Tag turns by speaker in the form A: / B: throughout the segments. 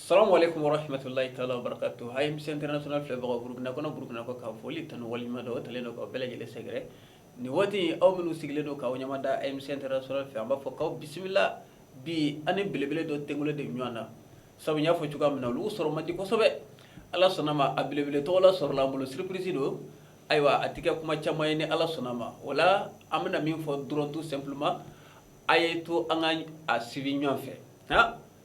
A: Salamu alekum waramatulayi ta barakatu AMC international filɛbagaw burukina kɔnɔ burukina kɔkan foli tanu waleɲumandɔn talen don ka bɛɛ lajɛlen sɛgɛrɛ nin waati aw minnu sigilen don k'aw ɲɛ mada AMC fɛ an b'a fɔ k'aw bisimila bi an ni belebele dɔ tɛgolo de ɲɔgɔn na sabu y'a fɔ cogoya min na olu sɔrɔ mandi kosɛbɛ ala sɔnna ma a belebele tɔgɔla sɔrɔla an bolo surprise don ayiwa a tɛ kɛ kuma caman ye ni ala sɔnna a ma o la an bɛna min fɔ dɔrɔn tout simplement a ye to an ka a suivi ɲɔgɔn fɛ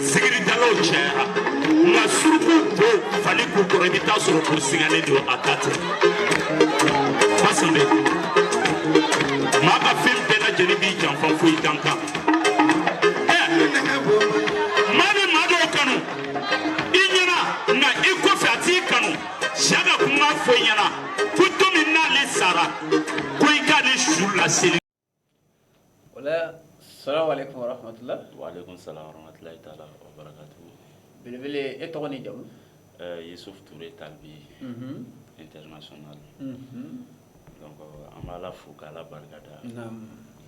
A: zikiridalaw cayara nka suruku bo fali k'u kɔrɔ i bɛ taa sɔrɔ k'u sigilen don a ta tɛ basande maa ka fɛn bɛɛ lajɛlen b'i janfa fo i dakan maa bɛ maa dɔw kanu i ɲɛna nka i kɔfɛ a t'i kanu se ka kuma fɔ i ɲɛna ko don min n'ale sara ko i k'ale su laseli Wala salamu alekum waramatila salamatulilayi ta barakatu belebele ne tɔgɔ ni jamu yusufu ture talibi international an b'ala fo k'ala barika da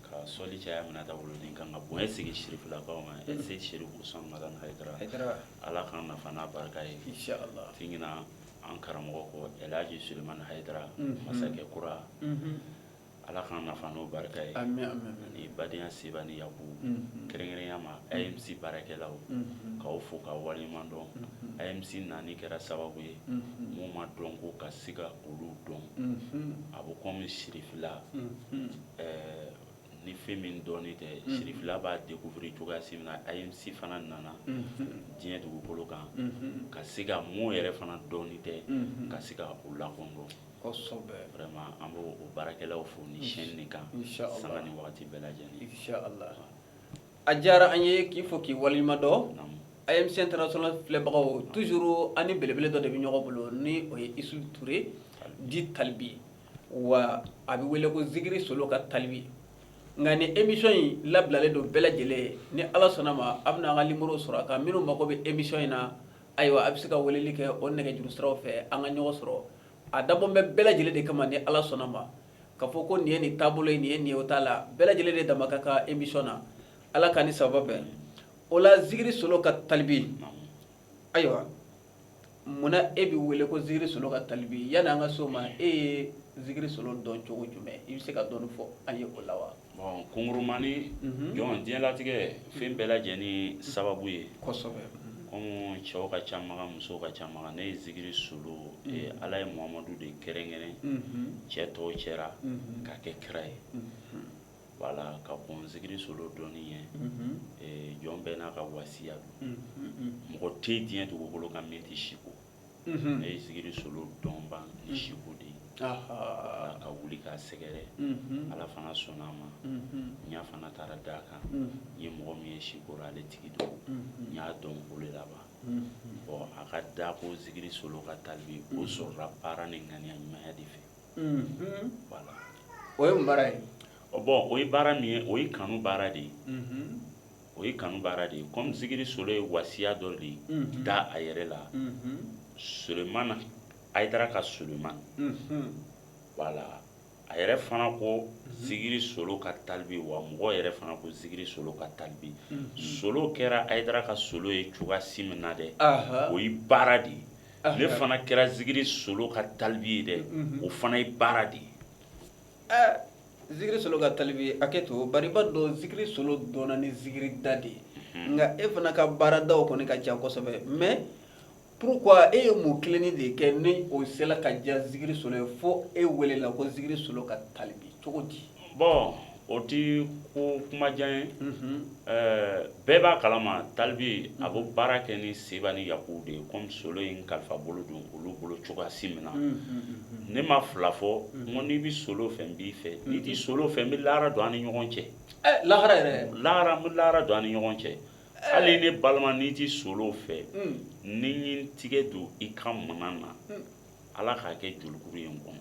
A: ka sɔli caya minata wolo kan ka bonya sigi sirifilakaw ma serifu hayidara ala k'an nafa n'a barika ye jigin an karamɔgɔ ko elihaji sulemani hayidara masakɛ kura Ala k'an nafa n'o barika ye ani badenya se ni yago kɛrɛnkɛrɛnnenya ma AMC baarakɛlaw k'aw fo ka waleɲuman dɔn AMC nani kɛra sababu ye mɔgɔ ma dɔn ko ka se ka olu dɔn a bɛ komi sirifila ɛɛ ni fɛn min dɔnnen tɛ sirifila b'a découvrir cogoya min na AMC fana nana diɲɛ dugukolo kan ka se ka mɔgɔw yɛrɛ fana dɔnnen tɛ ka se ka u lakodɔn an b' o baarakɛlaw fo ni sɛni ni kan san ni waati bɛɛ lajɛlen a diyara an ye k'i fo k'i waleɲumandɔn AMC international filɛbagaw toujours an ni belebele dɔ de bɛ ɲɔgɔn bolo ni o ye isufu ture dit talibi wa a bɛ wele ko zikiri solo ka talibi nka ni émission in labilalen don bɛɛ lajɛlen ni ala sɔnna ma a bɛna a ka nimero sɔrɔ a ka minnu mago bɛ émission in na Ayiwa a bɛ se ka weleli kɛ o nɛgɛjuru siraw fɛ an ka ɲɔgɔn sɔrɔ a dabɔ bɛ bɛɛ lajɛlen de kama ni ala sɔnna ma ka fɔ ko nin ye nin taabolo nin ye nin o t'a la bɛɛ lajɛlen de dama ka ka émission na ala ka ni saba bɛɛ o la zikiri solo ka talibi ayiwa munna e bɛ wele ko zikiri solo ka talibi yani an ka so ma e ye zikiri solo dɔn cogo jumɛn i bɛ se ka dɔɔnin fɔ an ye o la wa Bon kunkurunmani don diɲɛlatigɛ fɛn bɛɛ lajɛlen sababu ye comme cɛw ka ca musow ka ca ne ye zikiri solo ala ye mamadu de kɛrɛnkɛrɛn cɛ tɔw cɛ la k'a kɛ kira ye wala ka bon zikiri solo dɔn ye jɔn bɛɛ n'a ka wasiya don mɔgɔ tɛ diɲɛ dugukolo kan min tɛ siko unhun, ne ye zikiri solo dɔn ba ni siko de ye, ahaa, ka wuli k'a sɛgɛrɛ, unhun, Ala fana sɔnn'a ma, unhun, n ɲɛ fana taara d'a kan, unhun, n ye mɔgɔ min ye siko la ale tigi don, unhun, n y'a dɔn o de la ban, unhun, bon a ka da ko zikiri solo ka talibi o sɔrɔla baara ni ŋaniya ɲumanya de fɛ, unhun, voilà o ye mun baara ye? bon o ye baara min ye o ye kanu baara de ye, unhun. o ye kanu baara de ye comme zikiri solo ye wasiya dɔ de da a yɛrɛ la Sulemana Ayidara ka Sulemana voilà a yɛrɛ fana ko zikiri solo ka talibi wa mɔgɔw yɛrɛ fana ko zikiri solo ka talibi solo kɛra Ayidara ka solo ye cogoya si min na dɛ o ye baara de ye ne fana kɛra zikiri solo ka talibi ye dɛ o fana ye baara de ye Zikiri solo ka talibi hakɛ to bari an b'a dɔn zikiri solo dɔnna ni zikiri da de ye nka e fana ka baaradaw kɔni ka ca kosɛbɛ mais pourquoi e ye mun kelennin de kɛ ni o sera ka diya zikiri solo ye fo e welela ko zikiri solo ka talibi cogo di bon o tɛ ko kuma jan ye Ɛɛ bɛɛ b'a kalama talibi a b'o baara kɛ ni se ni yakulu de ye kɔmi solo ye n kalifa bolo don olu bolo cogoya si min na ne ma fila fɔ ko n'i bɛ solo fɛ n b'i fɛ n'i tɛ solo fɛ n bɛ lara don an ni ɲɔgɔn cɛ lara yɛrɛ lara bɛ lara don an ni ɲɔgɔn cɛ hali ne balima n'i tɛ solo fɛ ni n ye n tigɛ don i ka minan na ala k'a kɛ jurukuru ye n kɔnɔ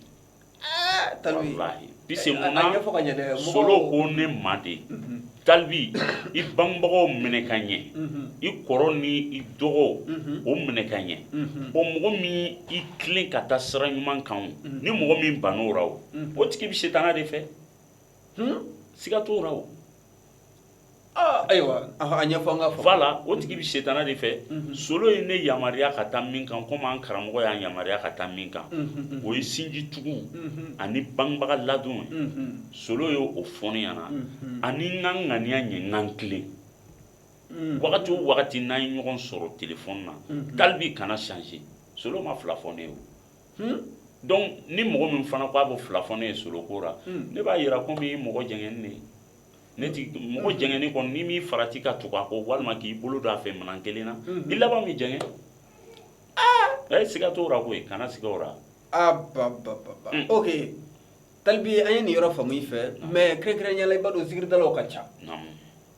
A: i bangebagaw minɛ ka ɲɛ i kɔrɔ ni i dɔgɔw minɛ ka ɲɛ bon mɔgɔ min i tilen ka taa sira ɲuman kan ni mɔgɔ min banna o la o tigi bɛ sitanɛ de fɛ siga t'o la o, aa ayiwa a ɲɛfɔ an ka fɔ, voila o tigi bɛ sitanɛ de fɛ, unhun, solo ye ne yamaruya ka taa min kan komi an karamɔgɔ y'an yamaruya ka taa min kan, unhun, o ye sinji tugu ani bangebaga ladon ye, unhun, solo ye o fɔ ne ɲɛna, unhun, ani n ka n ŋaniya ɲɛ n ka n tilen, unhun, wagati o wagati n'an ye ɲɔgɔn sɔrɔ telefɔni na, unhun, talibi kana changer solo ma fila fɔ ne ye o Hmm? Donc ni mɔgɔ min fana ko a bɛ fila fɔ ne ye solo ko la, hmm. ne b'a jira ko min ye mɔgɔ jɛngɛni de ye. Ne ti mɔgɔ jɛngɛni kɔni ni m'i farati ka tugu a kɔ walima k'i bolo don a fɛ minɛn kelen na, hmm. i laban bɛ jɛngɛ. Ah! Ɛ siga t'o la koyi, kana siga o la. Ah ba ba ba ba. Hmm. Ok. Talibi an ye nin yɔrɔ faamu i fɛ, mais kɛrɛnkɛrɛnnenya la i b'a dɔn zikiridalaw ka ca. Naamu.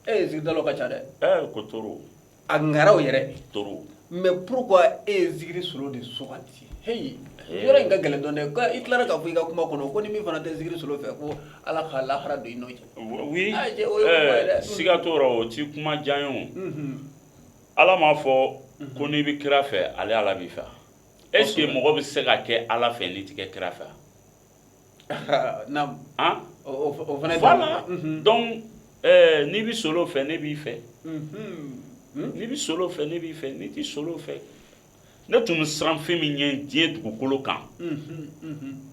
A: Ee zikiridalaw ka ca dɛ. Ee ko trop. a ŋanaw yɛrɛ trop mais pourquoi e ye zikiri solo de sugandi heyi yɔrɔ in ka gɛlɛn dɔɔnin dɛ ka i tilara k'a fɔ i ka kuma kɔnɔ ko ni min fana tɛ zikiri solo fɛ ko ala ka lahara don i n'o cɛ oui Ah, cɛ, o ye kuma ye dɛ. ɛɛ siga t'o rɔ o ti kuma jan ye o Mhm. ala m'a fɔ ko n'i bɛ kira fɛ ale ala b'i fɛ est ce que mɔgɔ bɛ se ka kɛ ala fɛ n'i tɛ kɛ kira fɛ o fana fa la donc n'i bɛ solo fɛ ne b'i fɛ n'i bɛ solo fɛ ne b'i fɛ n'i tɛ solo fɛ ne tun siran fɛn min ɲɛ diɲɛ dugukolo kan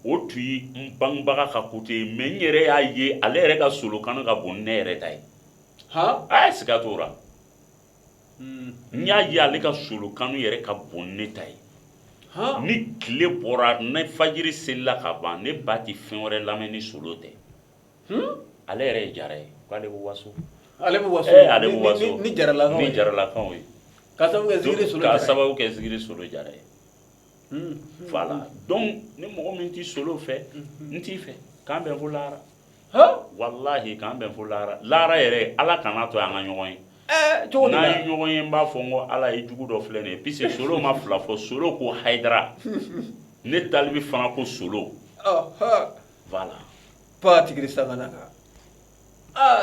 A: o tun ye n bangebaga ka côté ye mais n yɛrɛ y'a ye ale yɛrɛ ka solo kanu ka bon ne yɛrɛ ta ye a ye siga t'o la n y'a ye ale ka solo kanu yɛrɛ ka bon ne ta ye ni tile bɔra ni fajiri selila ka ban ne ba tɛ fɛn wɛrɛ lamɛn ni solo tɛ ale yɛrɛ ye jara ye k'ale bɛ waso ale bɛ waso ee ale bɛ waso ni jaralakaw ye ni jaralakaw ye ka sababu kɛ zikiri solo jara ye ka sababu kɛ zikiri solo jara ye voilà donc ni mɔgɔ min ti solo fɛ n t'i fɛ k'an bɛn fo lahara walahi k'an bɛn fo lahara lahara yɛrɛ ala kana to an ka ɲɔgɔn ye n'an ye ɲɔgɔn ye n b'a fɔ n ko ala e jugu dɔ filɛ nin ye puisque solo ma fila fɔ solo ko haidara ne talibi fana ko solo la tigi sabanan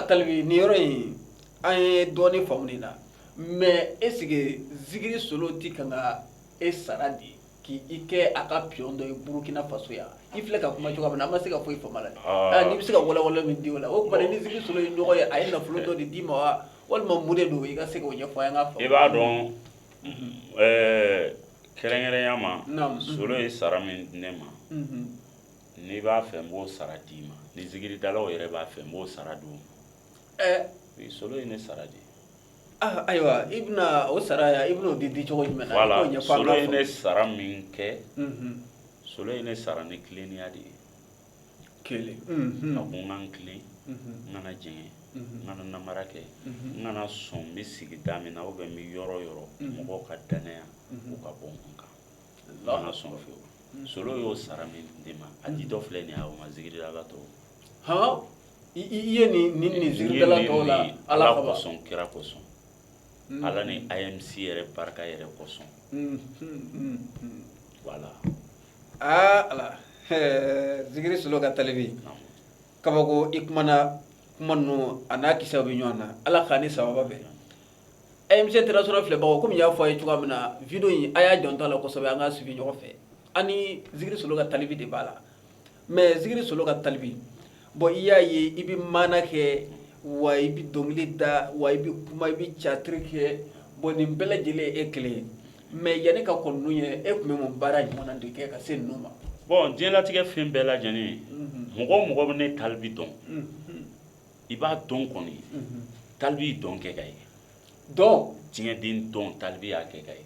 A: talibi nin yɔrɔ in an ye dɔɔnin faamu nin na mais est ce que zikiri solo tɛ ka e sara de ye k' i kɛ a ka pion dɔ burukina faso yan i filɛ ka kuma cogoya min na an ma se ka foyi faamu a la n'i bɛ se ka walawala min di la o ni zikiri solo ye ɲɔgɔn ye a ye nafolo dɔ de d'i ma wa walima mun de don i ka se o ɲɛfɔ ka i b'a dɔn kɛrɛnkɛrɛnya ma solo ye sara min ne ma n'i b'a fɛ n b'o sara d'i ma ni zikiridala yɛrɛ b'a fɛ n b'o sara d'i ma solo ye ne sara di Ayiwa i bɛna o sara i bɛna o di di cogo jumɛn ye ne sara min kɛ solo ye ne sara ni tileninya de ye kelen a ko n ka n tilen n kana jɛngɛ n kana nanbara kɛ n kana sɔn n bɛ sigida min na o bɛ n bɛ yɔrɔ yɔrɔ mɔgɔw ka dannaya u ka bɔ a kan n sen fɛ solo y'o sara min di n ma a di dɔ filɛ nin' ma zikiri la ka to h ye nin nin nin zikiridala tɔw la Ala kama, kosɔn kira kosɔn Ala ni AMC yɛrɛ barika yɛrɛ kosɔn voilà aa Ala zikiri solo ka talibi kabako i kumana kuma ninnu a n'a kisɛw bɛ ɲɔgɔn na Ala k'a ni sababu bɛn AMC International filɛbagaw komi n y'a fɔ a ye cogoya min na video in a y'a janto a la kosɛbɛ an k'a suivi ɲɔgɔn fɛ an ni zikiri solo ka talibi de b'a la mɛ zikiri solo ka talibi bɔn i y'a ye i bɛ maana kɛ wa i bɛ dɔnkili da wa i bɛ kuma i bɛ catiri kɛ bɔn nin bɛɛ lajɛlen e kelen ye mɛ yanni i ka kɔn ninnu ye e tun bɛ mun baara ɲɔgɔn de kɛ ka se ninnu ma bɔn diɲɛlatigɛ fɛn bɛɛ lajɛlen mɔgɔ o mɔgɔ bɛ ne talibi dɔn i b'a dɔn ko ne talibi dɔn kɛ ka ye dɔn tiɲɛden dɔn talibi y'a kɛ ka ye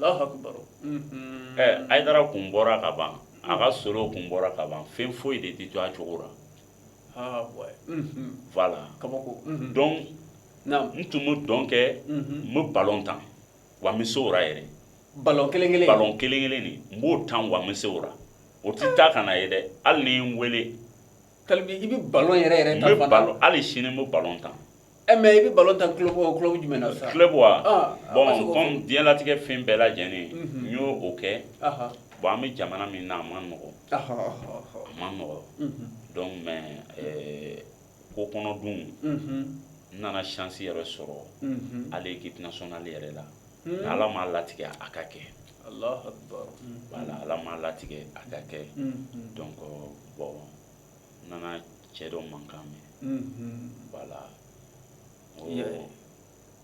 A: a kun bɔra ka ban a ka solo kun bɔra ka ban fɛn foyi de tɛ to a cogo la voilà dɔn n tun bɛ dɔn kɛ n bɛ balɔn tan wa n bɛ se o la yɛrɛ ba kelen kelen kelen de n b'o tan wa n bɛ se o la o tɛ taa ka na ye dɛ hali ni n weele Ko i bɛ balɔn yɛrɛ yɛrɛ tan balɔn hali sini n bɛ balɔn tan e mɛ i bɛ balɔn tan tulolɔ bɔ tulo jumɛn na sa tulolɛ wa bɔn diɲɛlatigɛ fɛn bɛɛ lajɛlen n y'o o kɛ bon an bɛ jamana min na a man nɔgɔ a man nɔgɔ dɔn mɛ ko kɔnɔdon n nana chance yɛrɛ sɔrɔ à l'équipe nationale yɛrɛ la ala m'a latigɛ a ka kɛ Wala ala m'a latigɛ a ka kɛ dɔn bɔn n nana cɛ dɔ mankan mɛn wala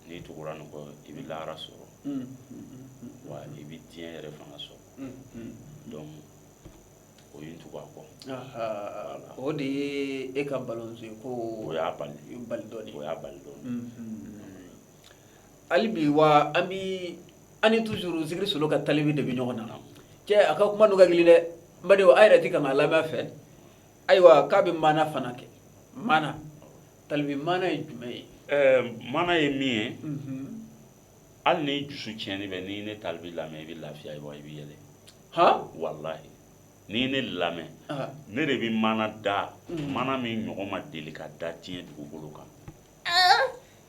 A: n'i tugura nin kɔ i bɛ lahara sɔrɔ wa i bɛ diɲɛ yɛrɛ fana sɔrɔ dɔn o ye n tugu a kɔ o de ye e ka balɔn ko o y'a bali bali dɔɔni o y'a bali dɔɔni hali bi wa an bɛ an ni toujours zikiri solo ka talibi de bɛ ɲɔgɔn na cɛ a ka kuma ninnu ka gɛlɛn dɛ ba a yɛrɛ tɛ ka a lamɛn fɛ ayiwa k'a bɛ maana fana kɛ maana talibi maana ye jumɛn ye maana ye min ye hali n'i dusu tiɲɛnen bɛ n'i ne talibi lamɛn i bɛ lafiya i bɛ yɛlɛ h walayi n'i ne lamɛn ne de bɛ maana da maana min ɲɔgɔn ma deli ka da diɲɛ dugukolo kan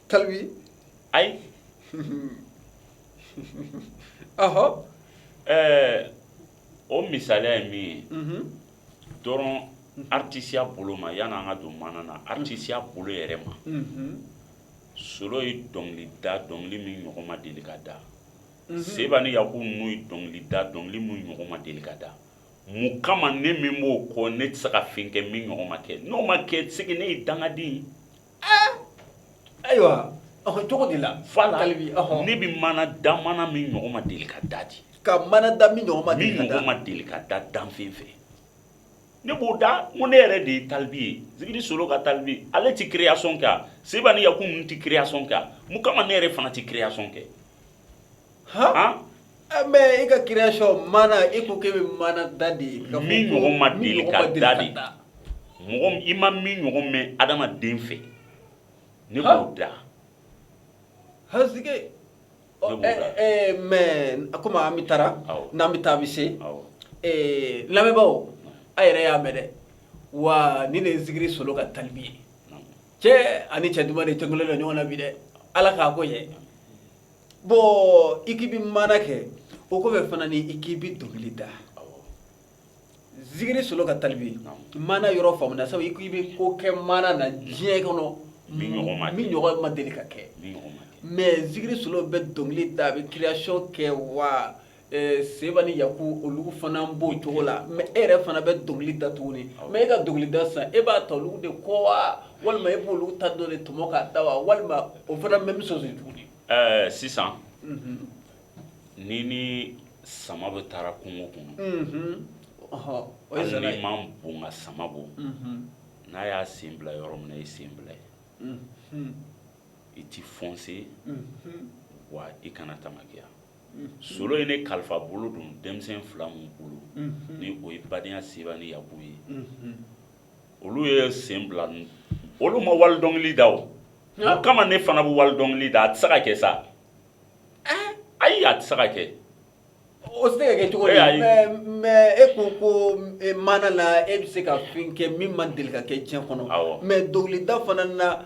A: Kalili ayi ɔhɔ ɛɛ o misaliya ye min ye dɔrɔn atisiya bolo ma yan an ka don maana na atisiya bolo yɛrɛ ma solo ye dɔnkili da dɔnkili min ɲɔgɔn ma deli ka da seba ni yaku nu ye dɔnkili da dɔnkili min ɲɔgɔn ma deli ka da mun kama ne min b'o kɔ ne tɛ se ka fɛn kɛ min ɲɔgɔn ma kɛ n'o ma kɛ segin ne ye dangaden ye Ayiwa cogo de la fana ne bɛ maana da maana min ɲɔgɔn ma deli ka da di ka maana da min ma ni ɲɔgɔn ma deli ka da danfɛn fɛ ne b'o da ko ne yɛrɛ de ye talibi ye zikiri solo ka talibi ale tɛ kireyasɔn kɛ wa seba ni yaku nu tɛ kireyasɔn kɛ wa mun kama ne yɛrɛ fana tɛ kireyasɔn kɛ Mɛ e ka kireyasɔn maana e ko e bɛ maana da de ye mɔgɔ ma deli ka da de da i ma min ɲɔgɔn mɛn adamaden fɛ ne b'o da mɛ a ko an bɛ taa n'an bɛ taa bɛ se lamɛnbagaw a yɛrɛ y'a mɛn dɛ wa ni nin zikiri solo ka talibi ye cɛ ani cɛ duman de tilenna ɲɔgɔn na bi dɛ ala k'a ko ye bɔn i ko i bɛ maana kɛ o kɔfɛ fana ni i ko i bɛ dɔnkili da zikiri solo ka talibi maana yɔrɔ faamuna sabu i ko i bɛ ko kɛ maana na diɲɛ kɔnɔ min ɲɔgɔn ma deli ka kɛ mɛ zikiri solo bɛ dɔnkili da a bɛ kireyasɔn kɛ wa seba ni yaku olu fana b'o cogo la mɛ e yɛrɛ fana bɛ dɔnkili da tuguni mɛ e ka dɔnkili da sisan e b'a ta olu de kɔ wa walima e b'olu ta dɔ de tɔmɔ k'a da wa walima o fana bɛ bɛ sɔn tuguni sisan n'i ni sama bɛ taa la kungo kɔnɔ i man bon ka sama bɔ n'a y'a sen bila yɔrɔ min i sen bila yen i tɛ fɔnse wa i kana taamakiya solo ye ne kalifa bolo don denmisɛn fila min bolo ni o ye badenya seba ni yaku ye olu ye sen bila olu ma wali dɔnkili da o kama ne fana bɛ wali dɔnkili da a tɛ se ka kɛ sa ayi a tɛ se ka kɛ o se ka kɛ cogo mɛ e ko ko maana na e bɛ se ka fɛn kɛ min ma deli ka kɛ diɲɛ kɔnɔ mɛ dɔnkilida fana na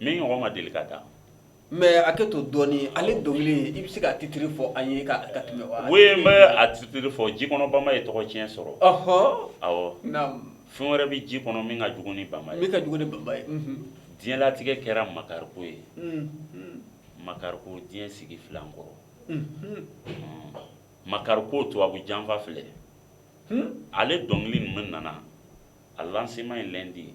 A: Min ɲɔgɔn ma deli ka da mɛ a tɛ to dɔɔnin ale dɔnkili i bɛ se ka titiri fɔ an ye ka tɛmɛ a titiri fɔ ji kɔnɔ bama ye tɔgɔtiɲɛ sɔrɔ ɔɔ fɛn wɛrɛ bɛ ji kɔnɔ min ka jugu ni bama ye ka jugu ni bama ye diɲɛlatigɛ kɛra makariko ye makariko diɲɛ sigi fila kɔrɔ makariko tu a bɛ janfa filɛ ale dɔnkili min nana a lanseman ye lɛndi ye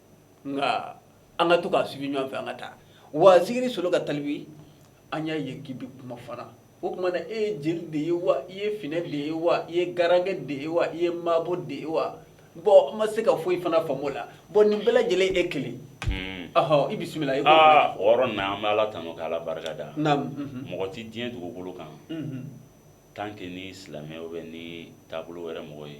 A: nka an ka to k'a suivi ɲɔgɔn fɛ an ka taa wa zikiri solo ka talibe an y'a ye k'i bɛ kuma fana o tuma na e ye jeli de ye wa i ye finɛ de ye wa i ye garankɛ de ye wa i ye maabo de ye wa bɔn an ma se ka foyi fana faamu o la bɔn nin bɛɛ lajɛlen e kelen ɔhɔ i bisimila i aa o yɔrɔ na an bɛ ala tanu ka ala barika da naamu mɔgɔ tɛ diɲɛ dugukolo kan tant que ni silamɛ ou bien ni taabolo wɛrɛ mɔgɔ ye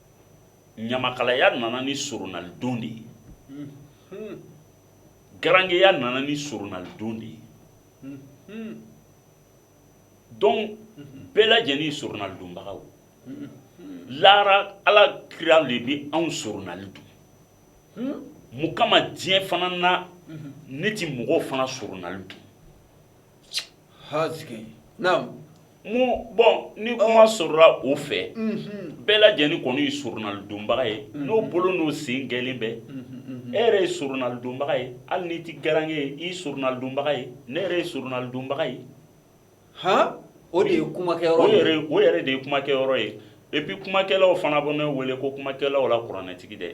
A: ɲamakalaya nana ni soronalidon de ye garangeya nana ni soronalidon de ye donc bɛɛ lajɛlen soronalidonbagaw lara ala kira de bɛ anw soronalidon mun kama diɲɛ fana na ne tɛ mɔgɔw fana soronalidon ha sigi naamu bɔn ni kuma sɔrɔla o fɛ bɛɛ lajɛlen kɔni ye soronalidonbaga ye n'o bolo n'o sen gɛlɛnlen bɛɛ e yɛrɛ ye soronalidonbaga ye hali n'i tɛ garankɛ ye i ye soronalidonbaga ye ne yɛrɛ ye soronalidonbaga ye h o de ye kumakɛ o yɛrɛ de ye kumakɛ yɔrɔ ye epi kumakɛlaw fana bɛ ne wele ko kumakɛlaw la kuranɛtigi dɛ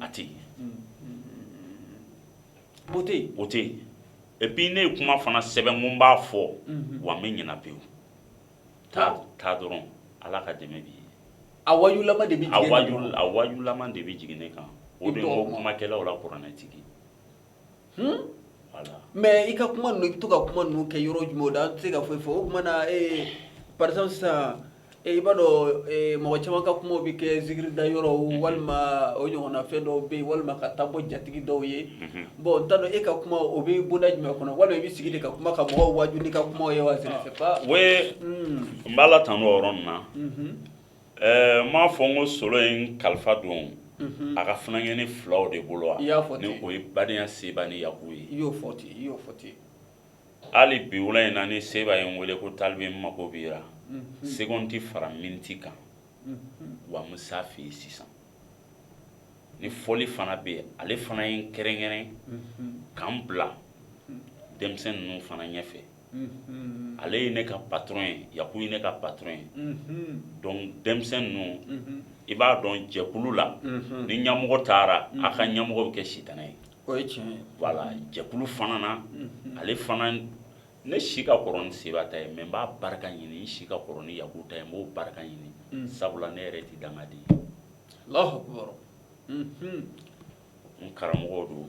A: a tɛ yen o tɛ yen ne ye kuma fana sɛbɛn ko n b'a fɔ wa n bɛ ɲina pewu taa dɔrɔn ala ka dɛmɛ bi a waaju de waaju de bɛ jigin ne kan o de ko kumakɛlaw la kuranɛtigi Hun voilà mais i ka kuma ninnu i be to ka kuma ninnu kɛ yɔrɔ jumɛnw na an te se ka foyi fɔ o tuma na ee par exemple sisan ee i b'a dɔn ee mɔgɔ caman ka kumaw be kɛ zikiri da yɔrɔw mhm. walima o ɲɔgɔnna fɛn dɔw be yen walima ka taa bɔ jatigi dɔw ye mhm. bon n t'a dɔn e ka kuma o be bonda jumɛn kɔnɔ walima i be sigi de ka kuma ka mɔgɔw waaju n'i ka kumaw ye wa je ne sais pas oui n b'ala tanu o yɔrɔ nin na mhm. Ɛɛ m'a fɔ n ko solo ye n kalifa don a ka funankɛnin filaw de bolo wa ni o ye badenya seba ni yaku ye i y'o fɔ ten i y'o fɔ ten hali bi wula in na ni seba ye n weele ko talibe n mako b'i la second tɛ fara miniti kan wa n bɛ s'a fɛ yen sisan ni fɔli fana bɛ yen ale fana ye n kɛrɛnkɛrɛn ka n bila denmisɛnnin ninnu fana ɲɛfɛ ale ye ne ka patron ye yaku ye ne ka patron ye denmisɛn ninnu i b'a dɔn jɛkulu la ni ɲɛmɔgɔ taara a ka ɲɛmɔgɔ bɛ kɛ i ta ye jɛkulu fana na ale fana ne si ka kɔrɔ ni seba ta ye mɛ n b'a barika ɲini n si ka kɔrɔ ni yaku ta ye n b'o barika ɲini sabula ne yɛrɛ tɛ dangaden ye n karamɔgɔ don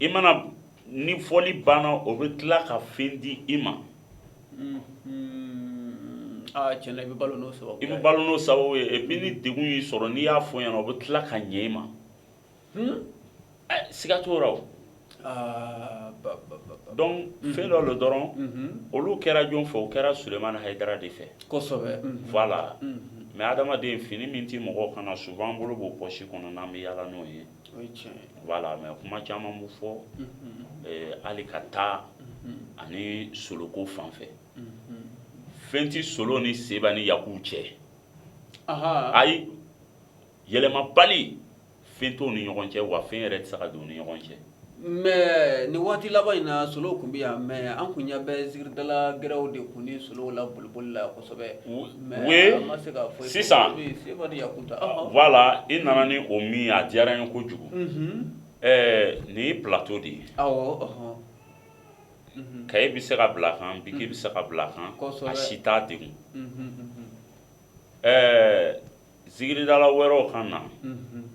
A: i mana ni fɔli banna o bɛ tila ka fɛn di i ma cɛ i bɛ balo sɔrɔ i bɛ balo sababu ye et puis ni dɛgun y'i sɔrɔ n'i y'a fɔ ɲɛna o bɛ tila ka ɲɛ i ma siga t'o la donc fɛn dɔ don dɔrɔn olu kɛra jɔn fɛ o kɛra usumani hayidara de fɛ voilà mais hadamadenw fini min tɛ mɔgɔ kan na souvent an bolo b'o pɔsi kɔnɔ n'an bɛ yaala n'o ye voilà mais kuma caman bɛ fɔ hali ka taa ani solo ko fan fɛ fɛn tɛ solo ni seba ni yaku cɛ ayi yɛlɛmabali fɛn t'o ni ɲɔgɔn cɛ wa fɛn yɛrɛ tɛ se ka don o ni ɲɔgɔn cɛ Mɛ nin waati laban in na solo tun bɛ yan mɛ an tun bɛ zikiridala wɛrɛw de tun ni solo la bolokoli la sisan la i nana ni o min a diyara n ye kojugu nin ye plateau de ye ka e bɛ se ka bila kan bi bɛ se ka bila kan si t' de Zikiridala wɛrɛw kan na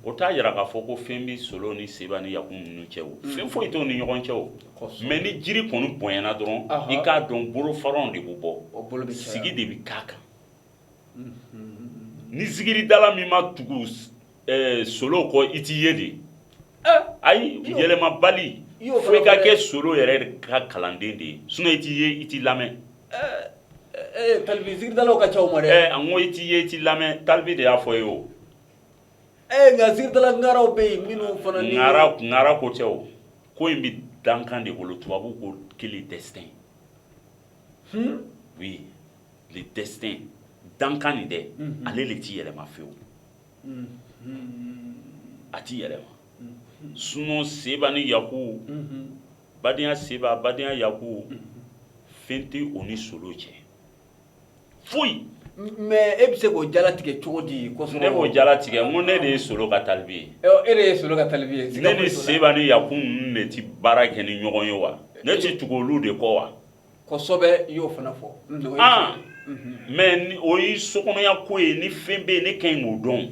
A: o t'a jira k'a fɔ ko fɛn bɛ solo ni seba ni yaku ninnu cɛ o fɛn foyi t'o ni ɲɔgɔn cɛ o mɛ ni jiri kɔni bonyana dɔrɔn i k'a dɔn bolofara de bɛ bɔ sigi de bɛ ta kan ni zikiridala min ma tugu solo kɔ i tɛ ye dɛ ayi yɛlɛmabali fo i ka kɛ solo yɛrɛ ka kalanden de ye sinon i tɛ ye i tɛ lamɛn Zikiridalaw ka cɛma dɛ an ko i tɛ ye i tɛ lamɛn talibi de y'a fɔ ye o ɛɛ nka zikiridalaw bɛ yen minnu fanara ko cɛ o ko in bɛ dankan de bolo tubabu ko le destin oui le destin dankan nin dɛ ale de tɛ yɛlɛma fewu a tɛ yɛlɛma sinon seba ni yaku badenya seba badenya yaku fɛn tɛ o ni solo cɛ foyi mɛ e bɛ se k'o jala tigɛ cogo di ye ne b'o jala tigɛ ko ne de ye solo ka talibi ye e de ye solo ka talibi ye ne ni seba ni yaku ninnu de tɛ baara kɛ ni ɲɔgɔn ye wa ne tɛ tugu olu de kɔ wa kosɛbɛ i y'o fana fɔ mɛ o ye sokɔnɔya ko ye ni fɛn bɛ yen ne ka ɲi k'o dɔn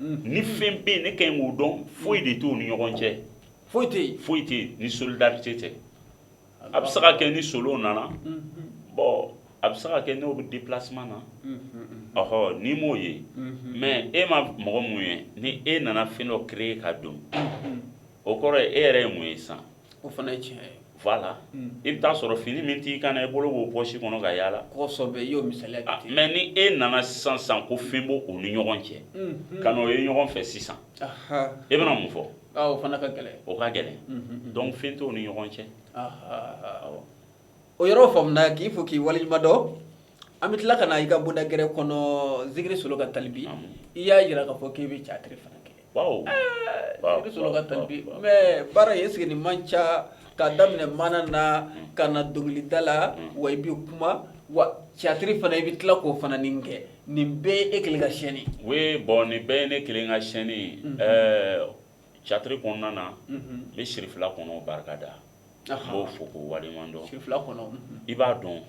A: ni fɛn bɛ yen ne ka ɲi k'o dɔn foyi de t'o ni ɲɔgɔn cɛ foyi tɛ yen foyi tɛ yen ni solidarité tɛ a bɛ se ka kɛ ni solo nana bon a bɛ se ka kɛ n'o bɛ déplacement na ɔhɔ n'i m'o ye mais e ma mɔgɔ min ye ni e nana fɛn dɔ créer ka don o kɔrɔ ye e yɛrɛ ye mun ye sisan o fana ye tiɲɛ ye voilà i bɛ t'a sɔrɔ fini min t'i kan i bolo b'o pɔsi kɔnɔ ka yaala kɔsɔ i y'o misali mɛ ni e nana sisan sisan ko fɛn b'o ni ɲɔgɔn cɛ ka na o ye ɲɔgɔn fɛ sisan e bɛna mun fɔ o fana ka gɛlɛn o ka gɛlɛn donc fɛn t'o ni ɲɔgɔn cɛ o yɔrɔ faamuya k'i fo k'i waleɲumandɔn An bɛ tila ka na i ka bɔda gɛrɛ kɔnɔ zikiri solo ka talibi i y'a jira ka fɔ k'i bɛ catiri fana kɛ baara ye sigi ni man ca ka daminɛ maana na ka na dɔnkilida la wa i bɛ kuma wa catiri fana i bɛ tila k'o fana nin kɛ nin bɛɛ e kelen ka scénario ye bon nin bɛɛ ye ne kelen ka scénario ye catiri kɔnɔna na ne siri fila kɔnɔ barikada b'o fo k'o waleɲuman dɔn fila kɔnɔ i b'a dɔn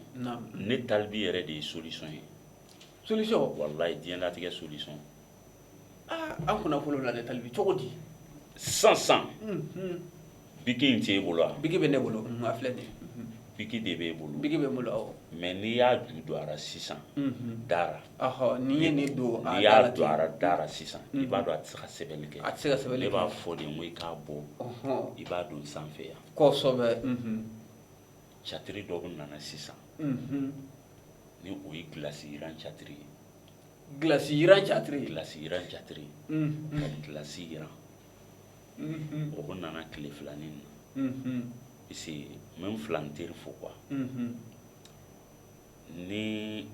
A: ne talibi yɛrɛ de ye solution ye soli walayi diɲɛlatigɛ solution an kunna fɔlɔ la talibi cogo di sisan biki tɛ e bolo a biki bɛ ne bolo filɛ de biki de bɛ e bolo biki b'e bolo mais n'i y'a ju don a sisan da ra N'i ye ne don a y'a don a da ra sisan i b'a dɔn a tɛ se ka sɛbɛnni kɛ a tɛ se ka sɛbɛn ne b'a fɔ de ko i k'a bɔ i b'a don sanfɛ yan kɔsɔbɛ catiri dɔ bɛ nana sisan ni o ye gilasi jiraran catiri ye gilasi jiraran catiri gilasi jiraran catiri ka gilasi jira o bɛ nana tile fila nin na parce n filan teri fo ka Ni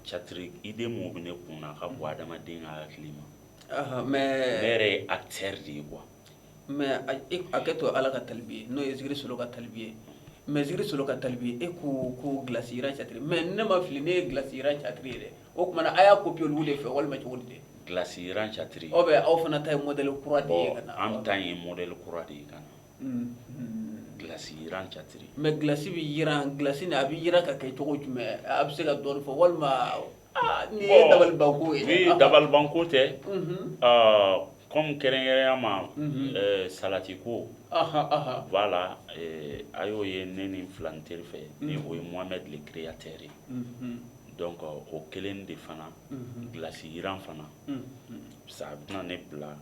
A: catiri idée min bɛ ne kun na ka bɔ adamaden ka hakili ma mais ne yɛrɛ ye acteur de ye quoi mais acteur ala ka talibi n'o ye zikiri solo ka talibi ye mais zikiri solo ka talibi e ko ko gilasi catiri mais ne ma fili ne ye gilasi catiri ye dɛ o tuma a y'a copier olu de fɛ walima cogo di gilasi catiri aw bɛ aw fana ta ye modɛli kura de ye anw ta ye modɛli kura de ye kan Gilasi jira catiri mais gilasi bɛ jira gilasi nin a bɛ jira ka kɛ cogo jumɛn a bɛ se ka dɔ fɔ walima nin ye dabalibanko ye dabalibanko tɛ comme kɛrɛnkɛrɛnya ma salati ko voilà a y'o ye ne nin filan teri fɛ ni o ye mohamed le créateur ye donc o kelen de fana gilasi jiraran fana a bɛna ne bila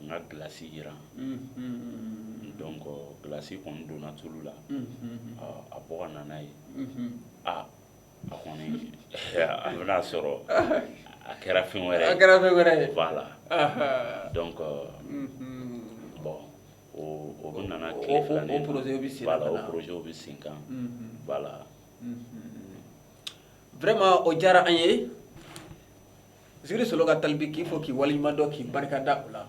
A: N ka gilasi jira donc gilasi kɔni donna tulu la a bɔ ka nana ye aa a kɔni a bɛn'a sɔrɔ a kɛra fɛn wɛrɛ a kɛra fɛn wɛrɛ de b'a la donc bon o bɛ nana tile fila nin projet o bɛ sen kan voilà vraiment o diyara an ye Zikiri Solo ka talibi k'i fɔ k'i waleɲuman dɔn k'i barika da o la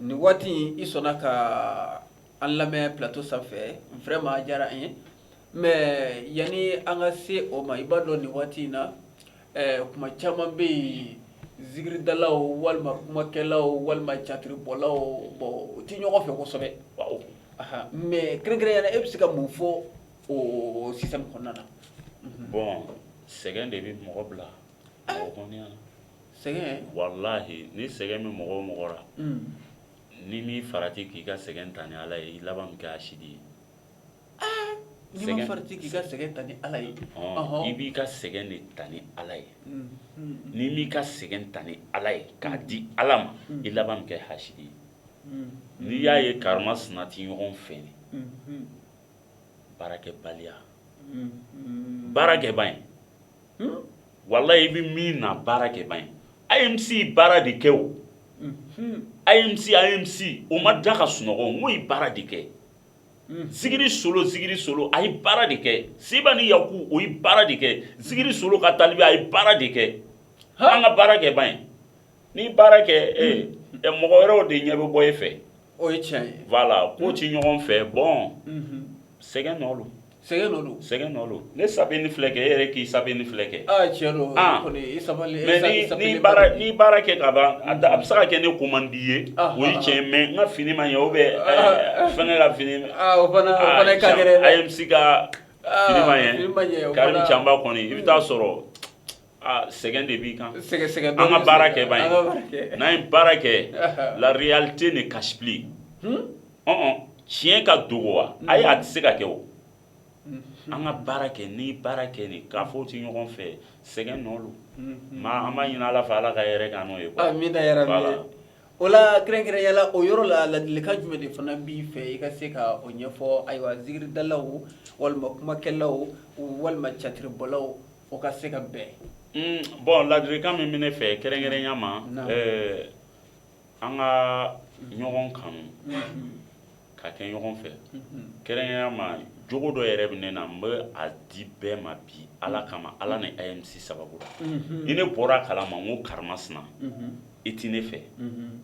A: nin waati in i sɔnna ka an lamɛn plateau sanfɛ vraiment a diyara an ye mais yanni an ka se o ma i b'a dɔn nin waati in na kuma caman bɛ yen zikiridalaw walima kumakɛlaw walima catiribɔlaw bon u tɛ ɲɔgɔn fɛ kosɛbɛ mais kɛrɛnkɛrɛnya la e bɛ se ka mun fɔ o système kɔnɔna na bon sɛgɛn de bɛ mɔgɔ bila sɛgɛn walahi ni sɛgɛn bɛ mɔgɔ o mɔgɔ la n'i ma farati k'i ka sɛgɛn ta ni ala ye i laban bɛ kɛ hasidi ye k'i ka sɛgɛn ta ni ala ye i b'i ka sɛgɛn de ta ni ala ye n'i m'i ka sɛgɛn ta ni ala ye k'a di ala ma i laban bɛ kɛ hasidi ye n'i y'a ye karimasina tɛ ɲɔgɔn fɛ baarakɛbaliya baarakɛba ye walahi i bɛ min na baara kɛ ban MC ye baara de kɛ o MC MC o ma da ka sunɔgɔ o ye baara de kɛ Zikiri Solo Zikiri Solo a ye baara de kɛ seba ni yaku o ye baara de kɛ Zikiri Solo ka talibi a ye baara de kɛ an ka baara kɛ ba ye N'i baara kɛ ɛ mɔgɔ wɛrɛw de ɲɛ bɛ bɔ e fɛ o ye tiɲɛ ye voilà k'u tɛ ɲɔgɔn fɛ bon sɛgɛn nɔ don sɛgɛn don sɛgɛn nɔ don ne sa ni filɛ kɛ e yɛrɛ k'i sa ni filɛ kɛ cɛ don n'i baara kɛ ka ban a bɛ se ka kɛ ne ko man d'i ye o ye cɛ mɛ n ka fini ma ye o bɛ fɛn ne ka fini MC se ka ma ye kari caba kɔni i bɛ taa a sɔrɔ Sɛgɛn de b'i kan sɛgɛn an ka baara kɛ ye n'an ye baara kɛ la réalité ni kasi tiɲɛ ka dogo wa a a tɛ se ka kɛ o an ka baara kɛ n'i baara kɛ ni k'a fɔ u tɛ ɲɔgɔn fɛ sɛgɛn nɔ don maa an b'a ɲini ala fɛ ala ka hɛrɛ k'an ye min yɛrɛ o la kɛrɛnkɛrɛnya la o yɔrɔ la laadilikan jumɛn de fana b'i fɛ i ka se ka o ɲɛfɔ ayiwa zikiridalaw walima kumakɛlaw walima catiribɔlaw u ka se ka bɛn bon laadilikan min bɛ ne fɛ kɛrɛnkɛrɛnya ma an ka ɲɔgɔn kanu ka kɛ ɲɔgɔn fɛ kɛrɛnkɛrɛnya ma jogo dɔ yɛrɛ bɛ ne na n bɛ a di bɛɛ ma bi ala kama ala ni MC sababu la ni ne bɔra kala ma ko karimasina i tɛ ne fɛ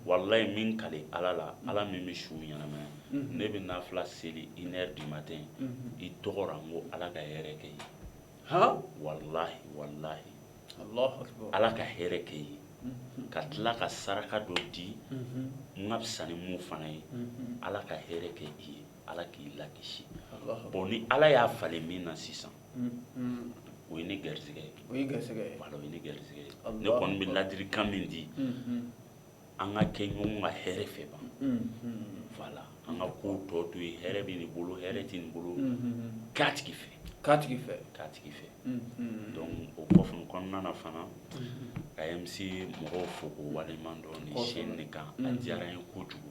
A: walahi n bɛ n kali ala la ala min bɛ su ɲɛnamaya ne bɛ nafila seli une heure du matin i tɔgɔ la n ko ala ka hɛrɛ k'i ye ala ka hɛrɛ kɛ i ye ka tila ka saraka dɔ di n ka fisa ni fana ye ala ka hɛrɛ kɛ i ye ala k'i lakisi bon ni ala y'a falen min na sisan o ye ne garijɛgɛ ye ne garijɛgɛ ye ne kɔni bɛ laadirikan min di an ka kɛ ɲɔgɔn ka hɛrɛ fɛ ban voilà an ka ko tɔ to ye hɛrɛ bɛ nin bolo hɛrɛ tɛ nin bolo ka tigi fɛ ka tigi fɛ ka tigi fɛ o kɔfɛ kɔnɔna na fana k'AMC mɔgɔw fo k'u waleɲuman dɔn nin chaîne kan a diyara n ye kojugu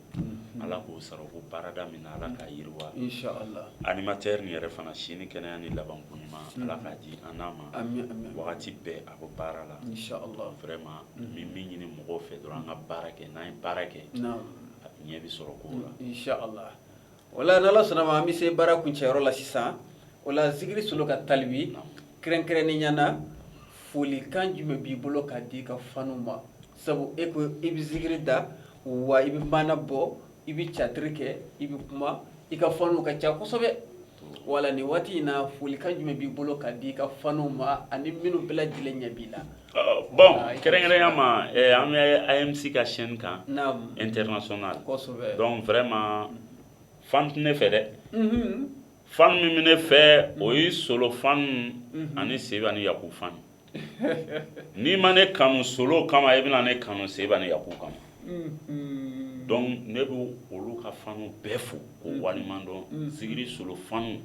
A: ala k'o sara k'u baarada min na ala k'a yiriwa animateur nin yɛrɛ fana si ni kɛnɛya ni labankoɲuman ala k'a di an ma wagati bɛɛ a ko baara la vraiment n bɛ min ɲini mɔgɔw fɛ dɔrɔn an ka baara kɛ n'a ye baara kɛ a ɲɛ bɛ sɔrɔ ko la voilà n'ala sɔnna a ma an bɛ se baara kuncɛyɔrɔ la sisan voilà zikiri solo ka talibi kɛrɛnkɛrɛnnenya na folikan jumɛn b'i bolo ka di i ka fanu ma sabu e ko i bɛ zikiri da wa i bɛ maana bɔ i bɛ catiri kɛ i bɛ kuma i ka fanw ka ca kosɛbɛ voilà nin waati in na folikan jumɛn b'i bolo ka di i ka fanw ma ani minnu bɛɛ lajɛlen ɲɛ b'i la bon kɛrɛnkɛrɛnya ma an bɛ AMC ka chaîne kan international donc vraiment fan tɛ ne fɛ dɛ fanw minnu bɛ ne fɛ o ye solo fanw ani seba ni yaku fanw n'i ma ne kanu solo kama i bɛna ne kanu seba ni yaku kama mm-hmm. donc ne bɛ olu ka fanu bɛɛ fo k'o mm-hmm. waleɲuman dɔn mm-hmm. zikiri solo fanu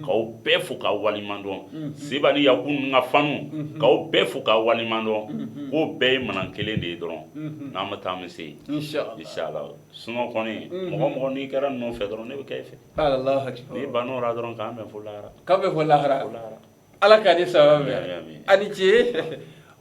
A: k'aw bɛɛ fo k'aw waleɲuman dɔn seba ni yaku ninnu ka fanu k'aw bɛɛ fo k'aw waleɲuman dɔn k'o bɛɛ ye maana kelen de ye dɔrɔn n'an bɛ taa an bɛ se yen inshallah sinon kɔni mɔgɔ mɔgɔ n'i kɛra ninnu fɛ dɔrɔn ne bɛ kɛ i fɛ n'i banna o la dɔrɔn k'an bɛn fo lahara k'an bɛn fo lahara ala ka ni saba an ni ce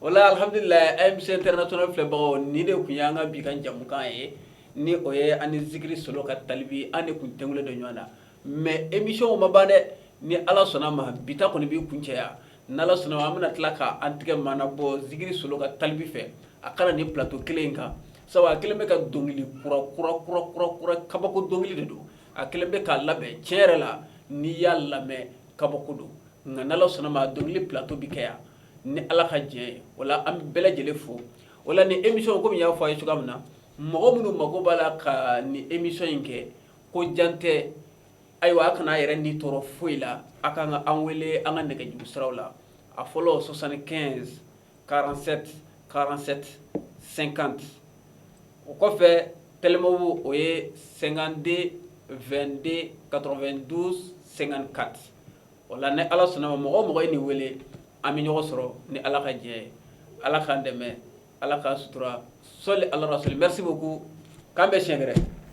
A: voilà alihamdulila AMC international filɛbagaw nin de tun y'an ka bi ka jamukan ye ni o ye an ni zikiri solo ka talibi an de tun tɛ dɔ ɲɔgɔn na mais émissionw ma ban dɛ ni ala sɔnna a ma bi ta kɔni bɛ kuncɛ yan ni ala sɔnna an bɛna tila k' an tigɛ mana bɔ zikiri solo ka talibi fɛ a ka na nin plateau kelen in kan sabu a kelen bɛ ka dɔnkili kura kura kura kura kura kabako dɔnkili de don a kelen bɛ k'a labɛn cɛ yɛrɛ la n'i y'a lamɛn kabako don nka n'ala sɔnna a ma dɔnkili plateau bɛ kɛ yan ni ala ka diɲɛ ye voilà an bɛ bɛɛ lajɛlen fo voilà nin émission kɔmi n y'a fɔ a ye cogoya min na mɔgɔ minnu mako b'a la ka nin émission in kɛ ko jantɛ ayiwa a kana a yɛrɛ ni tɔɔrɔ foyi la a ka kan ka an wele an ka nɛgɛjuru siraw la a fɔlɔ soixante-quinze 47 47 50 o kɔfɛ Telmob o ye 52 22 92 54 o la ni ala sɔnna mɔgɔ o mɔgɔ ye nin wele an bɛ ɲɔgɔn sɔrɔ ni ala ka diɲɛ ye ala k'an dɛmɛ ala k'an sutura sɔli ala rasuli merci beaucoup k'an bɛn sɛgɛrɛ